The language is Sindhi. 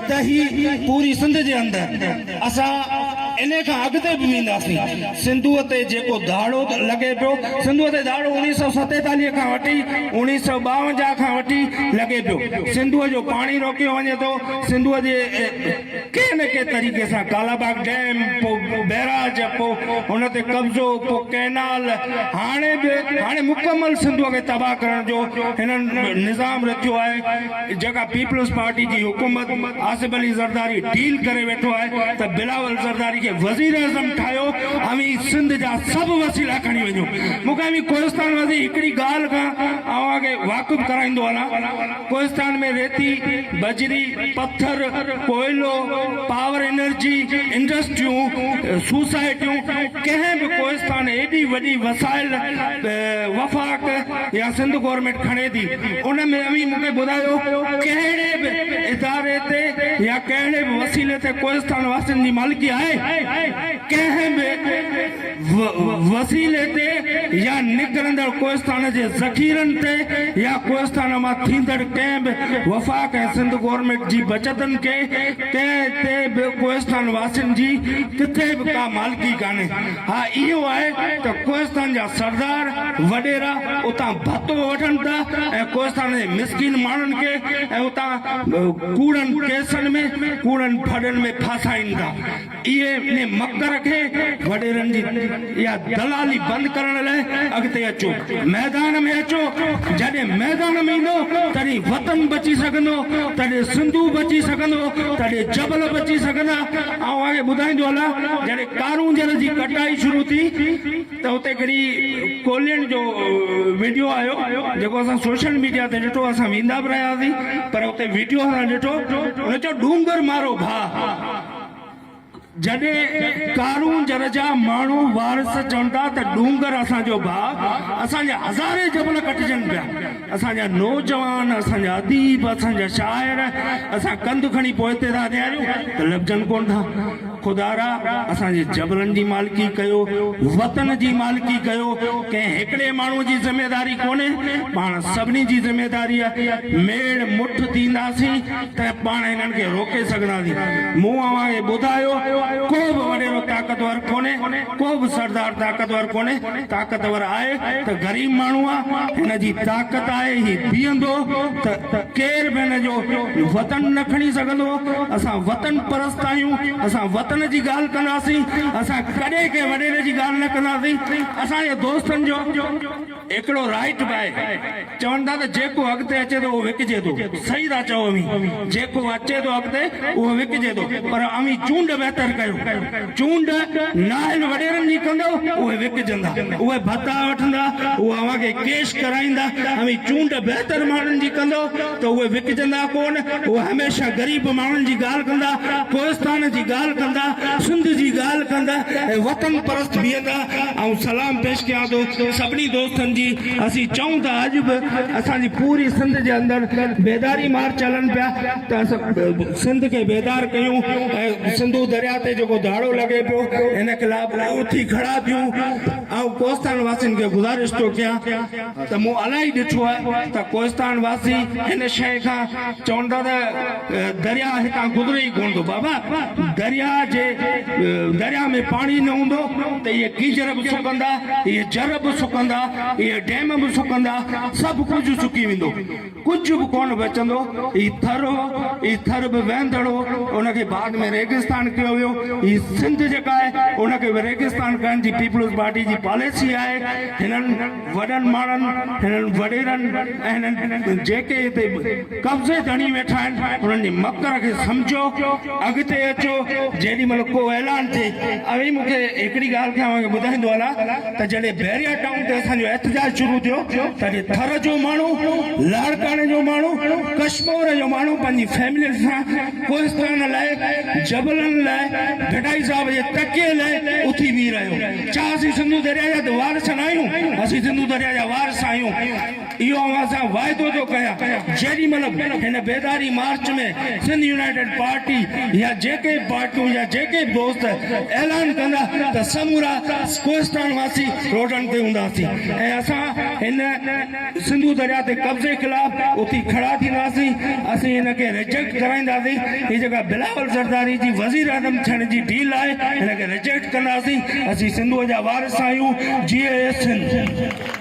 ته هي پوري سنڌ جي اندر اسان انهي کان اڳتي به وينداسين سنڌوء تي جيڪو ڌاڙو لڳي پيو سنڌوء تي ڌاڙو اڻيهه سؤ ستيتاليهه کان وٺي اڻيهه سؤ ٻاونجاهه کان وٺي لڳي پيو سنڌوء جو پاڻي روڪيو وڃي ٿو سنڌوء جي ڪنهن نه ڪنهن طريقي سان ڪالاباغ ڊيم پو بيراج پو ان تي قبضو پو ڪئنال هاڻي به هاڻي مڪمل سنڌوء کي تباهه ڪرڻ جو هنن نظام رٿيو آهي جيڪا پيپلز پارٽي جي حڪومت آصف علي زرداري ڊيل ڪري ويٺو آهي ته بلاول زرداري کي وزيراعظم ٺاهيو اوهين سنڌ جا سڀ وسيلا کڻي وڃو مون کي اوهين ڪوهستان واسين هڪڙي ڳالهه کان اوهان کي واقف ڪرائيندو هلان ڪوهستان ۾ ريتي بجري پٿر ڪوئلو پاور انرجي انڊسٽريون سوسائٽيون ڪنهن به ڪوهستان ايڏي وڏي وسائل وفاق يا سنڌ گورنمينٽ کڻي ٿي ان ۾ اوهين مون کي ٻڌايو ڪهڙي به اداري تي يا ڪهڙي به وسيلي تي ڪوهستان واسين جي مالڪي آهي ڪنهن به وسيلي تي يا نڪرندڙ ڪوهستان جي ذخيرن تي يا ڪوهستان مان ٿيندڙ ڪنهن به وفاق ۽ سنڌ گورنمينٽ جي بچتن کي ڪنهن تي به ڪوهستان واسين جي ڪٿي به ڪا مالڪي ڪانهي ها اهو آهي ته ڪوهستان جا سردار وڏيرا اتان ڀتو وٺن ٿا ۽ ڪوهستان جي مسڪين ماڻهن کي ۽ اتان ڪوڙن ڪيسن ۾ ڪوڙن ڦڏن ۾ ڦاسائين ٿا. اهي انهي مڪر کي وڏيرن جي اها دلالي بند ڪرڻ لاء اڳتي اچو ميدان ۾ اچو جڏهن ميدان ۾ ايندو تڏهن وطن بچي سگهندو تڏهن سنڌو بچي سگهندو تڏهن جبل بچي سگهندا. آئون اوهان کي ٻڌائيندو هلان، جڏهن ڪارونجهر جي ڪٽائي شروع ٿي ته اتي هڪڙي ڪولهين جو وڊيو آيو جيڪو اسان سوشل ميڊيا تي ڏٺو، اسان ويندا به رهيا سين پر اتي وڊيو اسان ڏٺو، هن چيو ڏونگر مارو ڀاء، جڏهن ڪارونجهر جا ماڻهو وارث چون ٿا ته ڏونگر اسان جو ڀاء، اسان جا هزارين جبل ڪٽجن پيا. اسان جا نوجوان، اسان جا اديب، اسان جا شاعر، اسان ڪنڌ کڻي پوئتي ٿا نهاريون ته لڀجن ڪونه ٿا. خدا را! اسان جي جبلن جي مالڪي ڪيو، وطن جي مالڪي ڪيو، ڪنهن هڪڙي ماڻهوء جي ذميواري ڪونهي، پاڻ سڀني جي ذميواري آهي. ميڙ مٺ ٿينداسين ته پاڻ هنن کي روڪي سگهنداسين. مون اوهان کي ٻڌايو، ڪو به وڏيرو طاقتور ڪونهي، ڪو به سردار طاقتور ڪونهي، طاقتور آهي ته غريب ماڻهو آ، هن جي طاقت آهي، هي بيهندو ته ڪير به هن جو وطن نه کڻي سگهندو، اسان وطن پرست آهيون، اسان وطن جي ڳالهه ڪنداسين، اسان ڪڏهن ڪنهن وڏيري جي ڳالهه نه ڪنداسين، اسان جي دوستن جو هڪڙو رائيٽ به آهي. چون ٿا ته جيڪو اڳتي اچي ٿو اهو وڪجي ٿو. صحيح ٿا چئو اوهين. جيڪو اچي ٿو اڳتي اهو وڪجي ٿو. پر اوهين چونڊ بهتر ڪيو. چونڊ نااهل وڏيرن جي ڪندو اهي وڪجندا. اهي ڀتا وٺندا. اهي اوهان کي ڪيش ڪرائيندا. اوهين چونڊ بهتر ماڻهن جي ڪندو ته اهي وڪجندا ڪونه. اهي هميشه غريب ماڻهن جي ڳالهه ڪندا. ڪوهستان جي ڳالهه ڪندا. سنڌ جي ڳالهه ڪندا ۽ وطن پرست بيهندا. آئون سلام پيش ڪيان ٿو سڀني دوستن جي. اسين چئون ته اڄ به اسان جي پوري سنڌ جي اندر بيداري مارچ هلن پيا ته اسان سنڌ کي بيدار ڪيون ۽ سنڌو درياء تي جيڪو ڌاڙو لڳي پيو ان خلاف اٿي ڪھڙا ٿيون آئون ڪوھستان واسين کي گذارش ٿو ڪيان ته مون الاهي ڏٺو آهي ته ڪوھستان واسي ان شيء کان چون ٿا ته درياهه هتان گذري ئي ڪونه ٿو. بابا درياهه جي درياهه ۾ پاڻي نه هوندو ته اهي گيزر به سڪندا، اهي جر به سڪندا، اهي ڊيم به سڪندا، سڀ ڪجهه سڪي ويندو. ڪجهه به ڪونه بچندو. هي ٿر هو، هي ٿر به وهندڙ هو، ان کي بعد ۾ ريگستان ڪيو ويو. هي سنڌ جيڪا آهي، ان کي به ريگستان ڪرڻ جي پيپلز پارٽي جي پاليسي آهي. هنن. وڏن ماڻهن، هنن وڏيرن ۽ هنن جيڪي هتي قبضي ڌڻي ويٺا آهن، انهن جي مڪر کي سمجهو، اڳتي اچو، جيڏي مهل ڪو اعلان ٿئي. اوهين مون کي هڪڙي ڳالهه کي اوهان کي ٻڌائيندو هلان ته جڏهن بحريا ٽائون تي اسان جو احتجاج شروع ٿيو، تڏهن ٿر جو ماڻهو، لاڙڪاڻي جو ماڻهو، ڪشمور جو ماڻهو پنهنجي فيملين سان ڪوهستان لاء، جبلن لاء، ڀٽائي صاحب جي تڪي لاء اٿي بيهي رهيو. ڇا اسين سنڌو درياء جا وارث ناهيون؟ اسين سنڌو درياء جا وارث آهيون. اهو اوهان سان واعدو ٿو ڪيان. جيڏي مهل به هن بيداري مارچ ۾ سنڌ يونائيٽيڊ پارٽي يا جيڪي به پارٽيون يا جيڪي به دوست اعلان ڪندا ته سمورا ڪوهستان واسي روڊن تي هونداسين ۽ اسان هن سنڌو درياء تي قبضي خلاف اٿي کڙا ٿينداسين، اسين هن کي ريجيڪٽ ڪرائينداسين، هي جيڪا بلاول زرداري جي وزيراعظم ٿيڻ جي ڊيل آهي هن کي ريجيڪٽ ڪنداسين، اسين سنڌوء جا وارث آهيون، جيئي سنڌ.